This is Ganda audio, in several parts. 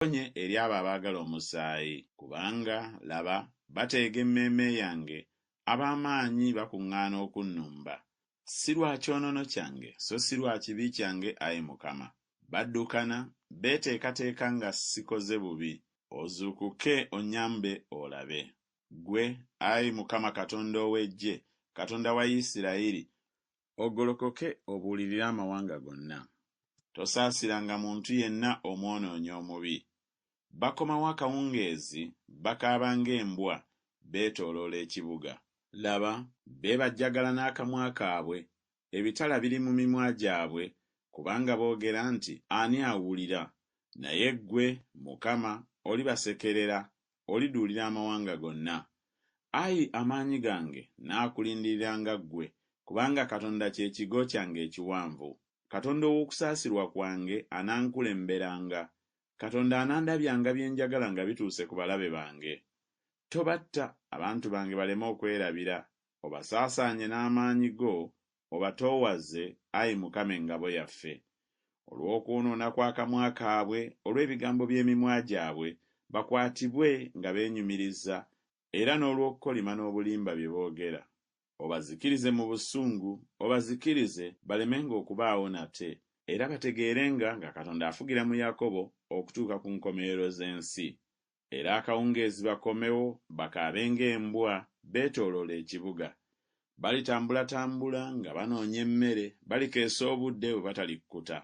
Onkonye eri abo abaagala omusaayi. Kubanga, laba, bateega emmeeme yange, ab'amaanyi bakuŋŋaana okunnumba. Si lwa kyonoono kyange, so si lwa kibi kyange, ayi Mukama. Baddukana, beeteekateeka nga ssikoze bubi. Ozuukuke onnyambe olabe. Ggwe, ayi Mukama Katonda ow'eggye, Katonda wa Isirayiri, ogolokoke obuulirire amawanga gonna. Tosaasiranga muntu yenna omwonoonyi omubi. Bakomawo akawungeezi, bakaaba ng'embwa, beetooloola ekibuga. Laba, beebajjagala n'akamwa kaabwe, ebitala biri mu mimwa gyabwe, kubanga boogera nti, Ani awulira? Naye ggwe, Mukama, olibasekerera, oliduulira amawanga gonna. Ayi amaanyi gange, nnaakulindiriranga ggwe, kubanga Katonda kye kigo kyange ekiwanvu. Katonda ow'okusaasirwa kwange anankulemberanga. Katonda anandabyanga bye njagala nga bituuse ku balabe bange. Tobatta, abantu bange baleme okwerabira, obasaasaanye n'amaanyi go Obatoowaze, ayi Mukama Engabo yaffe, olw'okwonoona kw'akamwa kaabwe, olw'ebigambo by'emimwa gyabwe, bakwatibwe nga beenyumiriza, era n'olw'okukolima n'obulimba bye boogera. Obazikirize mu busungu, obazikirize, balemenga okubaawo nate, era bategeerenga nga Katonda afugira mu Yakobo okutuuka ku nkomerero z'ensi. era akawungeezi bakomewo bakaabe ng'embwa beetooloola ekibuga. Balitambulatambula nga banoonya emmere, balikeesa obudde bwe batalikkuta.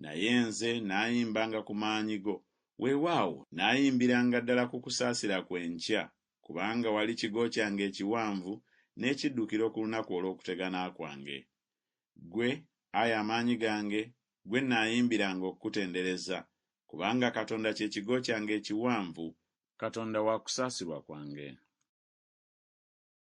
Naye nze nnaayimbanga ku maanyi go, weewaawo, nnaayimbiranga ddala ku kusaasira kwo enkya, kubanga wali kigo kyange ekiwanvu n'ekiddukiro ku lunaku olw'okutegana kwange. Ggwe, ayi amaanyi gange, ggwe nnaayimbiranga okukutendereza, kubanga Katonda kye kigo kyange ekiwanvu, Katonda wa kusaasirwa kwange.